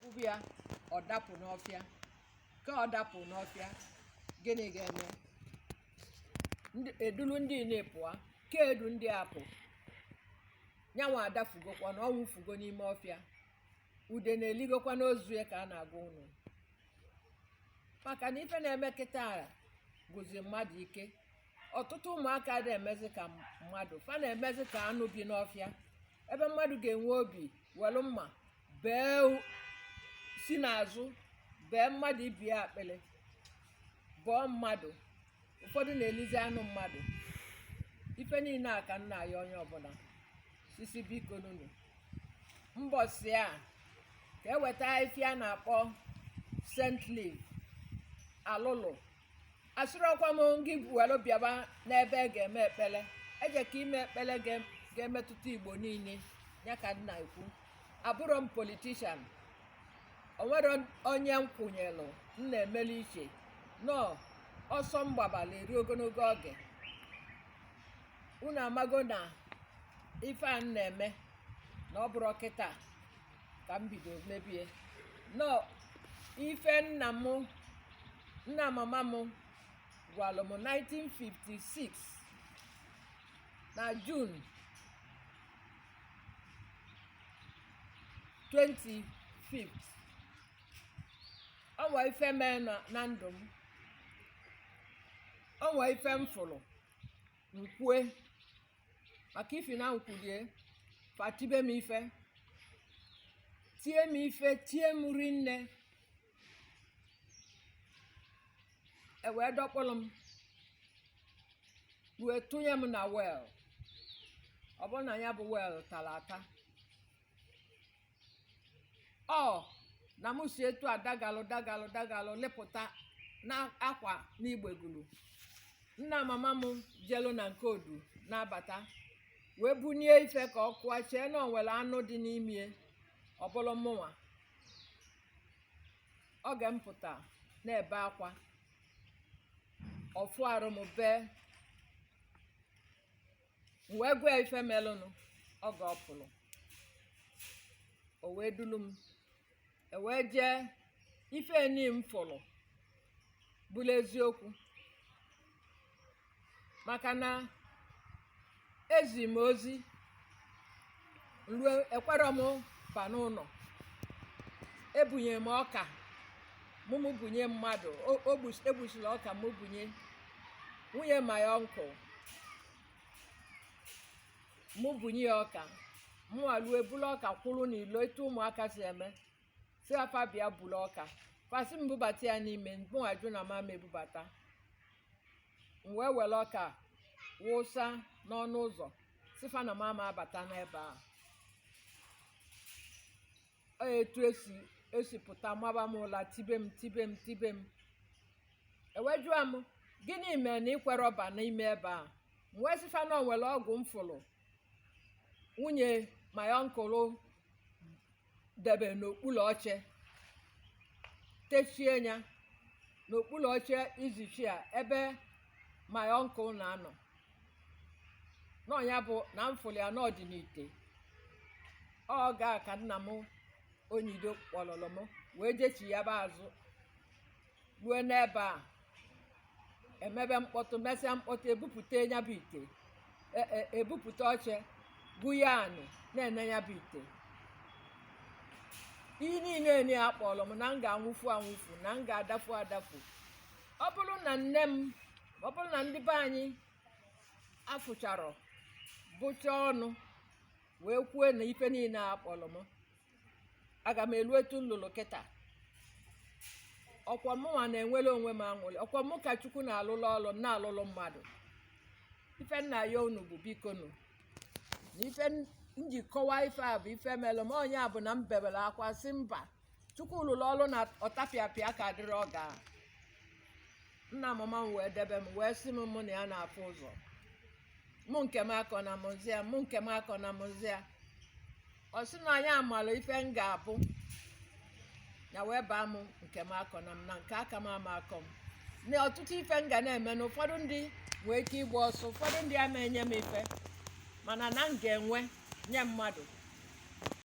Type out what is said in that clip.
ụbụ ya ọ dapụ n'ọfịa ka ọ dapụ n'ọfịa gịnị ga-eme Ndị- edulu ndị nile pụa ka edu ndị a pụ nyanwa adafugokwa na ọ nwụfugo n'ime ọfịa udene eligokwa n'ozu ya ka a na-agwa unu maka na ife na-eme kịta agwụzi mmadụ ike ọtụtụ ụmụaka ada emezi ka mmadụ fa na-emezi ka anụ bi n'ọfịa ebe mmadụ ga-enwe obi welu mma bee u- si n'azụ bee mmadụ ibe ya akpịlị bọọ mmadụ ụfọdụ na-elizi anụ mmadụ ife niile a ka m na-ayọ onye ọbụla sị sị bikonu nu mbọsị a ka e weta ife a na-akpọ scent leaf alụlụ asịrọkwa m gị welu bịaba n'ebe a ga-eme ekpele eje ka ime ekpele ga- ga-emetụta Igbo niile ya ka m na-ekwu abụrọ m politician o nwerọ onye m kwụnyelụ m na-emeli iche na ọsọ m gbabalụ eri ogologo oge unu amago na ife a m na-eme na ọ bụrọ kịta ka m bido mebe na ọ ife nna m nna mama m gwalụ m 1956 na June 25 o nwee ife mee na na ndụ m o nwee ife m fụlụ m kwue maka ifi na m kwulu ya fa tibe m ife tie m ife tie m rinne e wee dọkpụlụ m wee tụnye m na well ọ bụlụ na ya bụ well talụ ata ọ na m si etu a dagalụ dagalụ dagalụ lepụta na akwa n'igbegulu nna mama m jelu na nke odu na-abata wee bunie ife ka ọ kụọ chee na o nwelụ anụ dị n'ime ọ bụlụ mụnwa oge m pụta na-ebe akwa ọ fụ arụ m bee m wee gwa ya ife melụnụ oge ọ pụlụ o wee dulu m e wee jee ife nị m fụlụ bụlụ eziokwu maka na e zi m ozi ruo ekwerọ m ba n'ụnọ ebunye m ọka mụ mụ bunye mmadụ o- o gbus- egbusila ọka mụ bunye nwunye my uncle mụ bunye ya ọka mụ eluo bulu ọka kwụrụ n'ilo etu ụmụaka si eme sị fa bịa bulu ọka fa sị m bubata ya n'ime mụ ajụ na m ama ebubata m wee were ọka wụsa n'ọnụ ụzọ sị fa na m ama abata n'ebe a ọ etu esi esi pụta maba m ụla tibe m tibe m tibe m e wee jụa m gịnị mere na i kwerọ ba n'ime ebe a m wee sị fa na o nwere ọgwụ m fụrụ nwunye my uncle debe n'okpuru oche techie ya n'okpuru oche easy chair ebe my uncle na-anọ nọ ya bụ na m fụlụ ya na ọ dị n'ite ọ ga ka nna m onyido kpọlọlọ m wee jechi ya bụ azụ ruo n'ebe a e mebe mkpọtụ mesịa mkpọtụ ebupụta ya bụ ite e- e- ebupụta oche gwua anị na-ene ya bụ ite ihe niile enye ya kpọrọ m na m ga-anwụfu anwụfu na m ga-adafu adafu ọ bụrụ na nne m ọ bụrụ na ndị be anyị afụcharọ bụcha ọnụ wee kwuo na ife niile a kpọrọ m aga m elu etu m lulu kịta ọ kwa mụnwa na-enwere onwe m aṅụrị ọ kwa mụ ka chukwu na-alụlụ ọlụ m na-alụlụ mmadụ ife nna ya unu bụ biko nụ na ife m ji kọwaa ife a bụ ife mere m onye a bụ na m bebere akwa sị mba chukwu lụrụ ọlụ na ọtapịapịa ka dịrị ọ ga nna mama m wee debe m wee sị m mụ na ya na-afụ ụzọ mụ nkemakọnam zia mụ nkemakọnam zia ọ sị na ya amara ife m ga-abụ ya wee baa m nkemakọnam na nke aka m ama akọ m na ọtụtụ ife m ga na-eme na ụfọdụ ndị nwee ike ịgba ọsọ ụfọdụ ndị ama enye m ife mana na m ga-enwe nye mmadụ